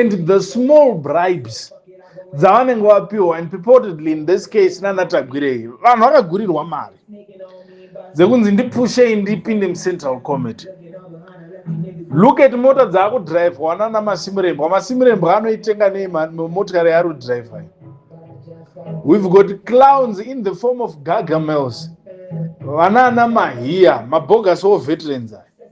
and the small bribes dzavanenge vapiwa and purportedly in this case nanatagwirei vanhu vakagurirwa mari dzekunzi ndipushei ndipinde mucentral committee look at mota dzaakudrivhwa nana masimirembwa masimirembwa anoitenga nei motikari yaari kudrivha we've got clowns in the form of gagamels vanaana mahiya mabogasi wo veterans aya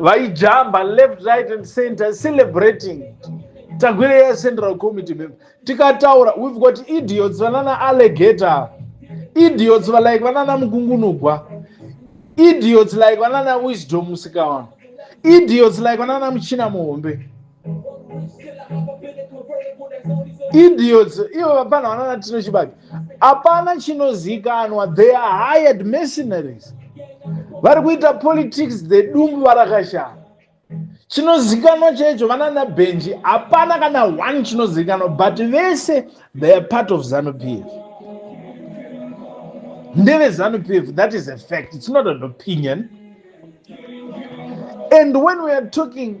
vaijamba left right and center celebrating tagwire ya central committee member tikataura we've got idiots vanana allegator idiots va like vanana mukungunugwa idiots like vanana wisdom musikawana idiots like vanana muchina muhombe idiots ivo vapana vanana tino chibaki hapana chinozikanwa they are hired mercenaries vari kuita politics the dumbu varakashara chinozikanwa chaicho vanana benji hapana kana one chinozikanwa but vese they are part of zanupf ndeve zanupf that is a fact it's not an opinion and when we are talking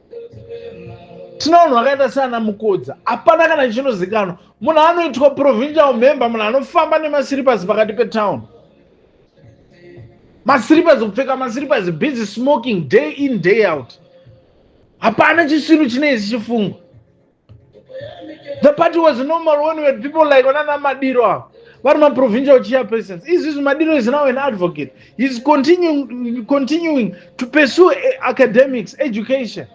tina vanhu vakaita seana mukodza hapana kana chinozikanwa munhu anoitwa provincial member munhu anofamba nemasiripasi pakati petown masiripasi kupfeka masiripasi busy smoking day in day out hapana chisvinu chinei zichifungwa the party was normal when we had people like vanana madiro ava vari maprovincial chairpersons izvizvi madiro is now an advocate heis continuing, continuing to pursue eh, academics education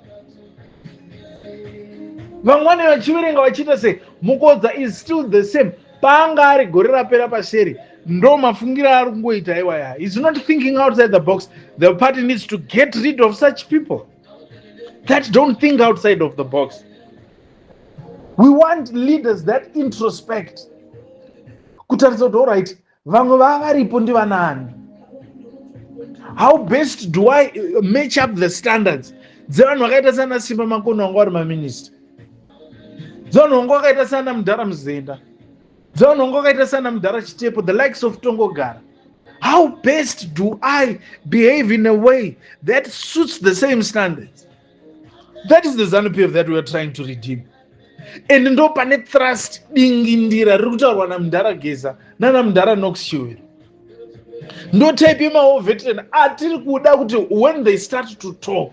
vamwani vachiverenga vachiita sei mukodza is still the same paanga ari gore rapera paseri ndo mafungiro aari kungoita iwaya is not thinking outside the box the party needs to get rid of such people that don't think outside of the box we want leaders that introspect kutaridza kuti allright vamwe vava varipo ndivanaani how best do i uh, match up the standards dzevanhu vakaita sana simba makono vanga vari maminista dzevanhu vanga vakaita sana mudhara muzenda dzaunongo kaita sana mudhara chitepo the likes of tongogara how best do i behave in a way that suits the same standards that is the zanupf that weare trying to redeem and ndo pane trust dingindira riri kutaurwa namudhara geza nana mudhara noxshiwero ndo type yemaoveteran atiri kuda kuti when they start to talk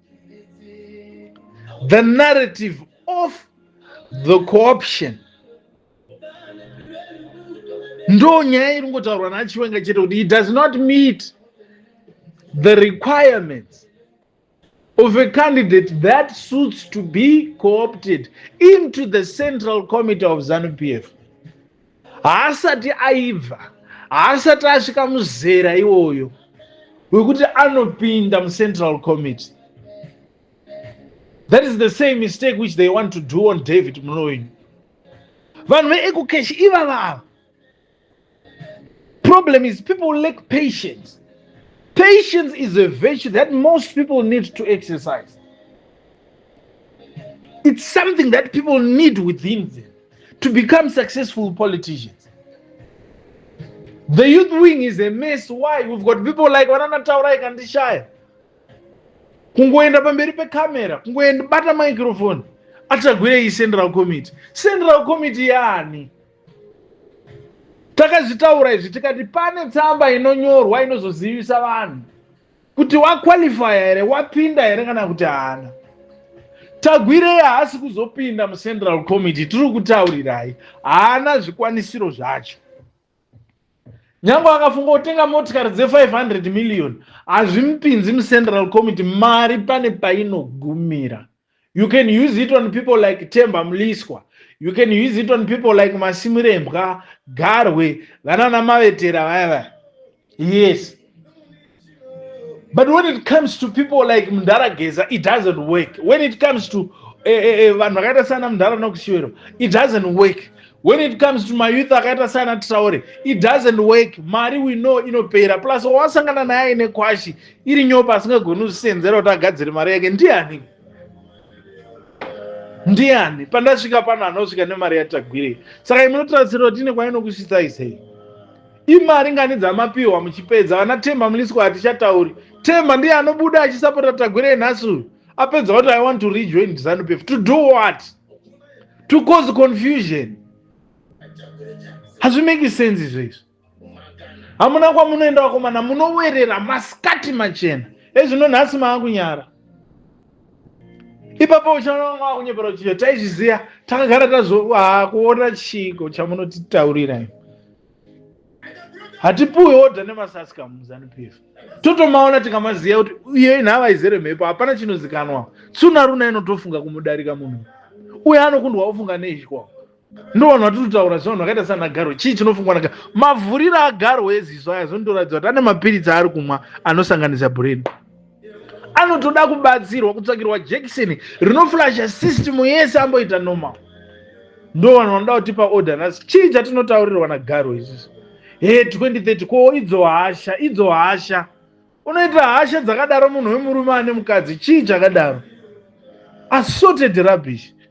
the narrative of the cooption ndo nyaya iri ngotaurwa nachiwenga chete kuti it does not meet the requirements of a candidate that suits to be co-opted into the central committee of zanu p f haasati aibva haasati asvika muzera iwoyo wekuti anopinda mucentral committee that is the same mistake which they want to do on david munoini vanhu veecocash ivavava problem is people lack patience patience is a virtue that most people need to exercise it's something that people need within them to become successful politicians the youth wing is a mess why we've got people like vananataurai kandishaya kungoenda pamberi pecamera kungoenda bata microphone atagwirei central committee central committee yaani takazvitaura izvi tikati pane tsamba inonyorwa inozozivisa vanhu kuti waqualifya here wapinda here kana kuti haana tagwirei haasi kuzopinda mucentral committee tiri kutaurirai haana zvikwanisiro zvacho nyange akafunga kutenga motikari dze500 million hazvimupinzi mucentral committee mari pane painogumira you can use it on people like temba mliswa you can use it on people like masimurembwa garwe vanana mavetera vaya vaya yes but when it comes to people like mndarageza it doesn't work when it comes to eh, eh, eh, vanhu vakaita sana mndara nokushiwero it doesn't work when it comes to mayouth akaita sana traure it doesn't work mari we know inopera plus wawasangana naye nekwashi iri nyopa asingagoni kuzvisenzera kuti agadzire mari yake ndiani ndiani pandasvika pano anosvika nemari yatagwirei saka imunotarisira kuti ine kwainokusvitsai sei imari ngani dzamapiwa muchipedza vana temba muliswa hatichatauri temba ndiye anobuda achisapota tagwirei nhasi uyu apedza kuti i want to rejoin zanupf to do what to cause confusion hazvimeki sense izvo izvo hamuna kwamunoenda vakomana munowerera masikati machena ezvino nhasi maakunyara ipapo uchaona vamwe vakunyepera kuti taizviziva takagara tazokuona chiiko chamunotitaurira i hatipuwe odha nemasasika muzanup f totomaona tikamaziva kuti iye nhava izere mhepo hapana chinozikanwa tsuna runa inotofunga kumudarika munhu uye anokundwa ofunga neizhikwawo ndovanhu vatinotaura zvevanhu vakaita sana garo chii chinofungwa naga mavhuriro agaro eziso aya zvinotoratidza kuti ane mapiritsi aari kumwa anosanganisa bureni anotoda kubatsirwa kutsvakirwa jekiseni rinoflasha system yese amboita normal ndo vanhu vanoda kutipa order nhasi chii chatinotaurirwa nagaro izvizvi he 2030 ko idzo hasha idzo hasha unoita hasha dzakadaro munhu wemurume ane mukadzi chii chakadaro assorted rubbish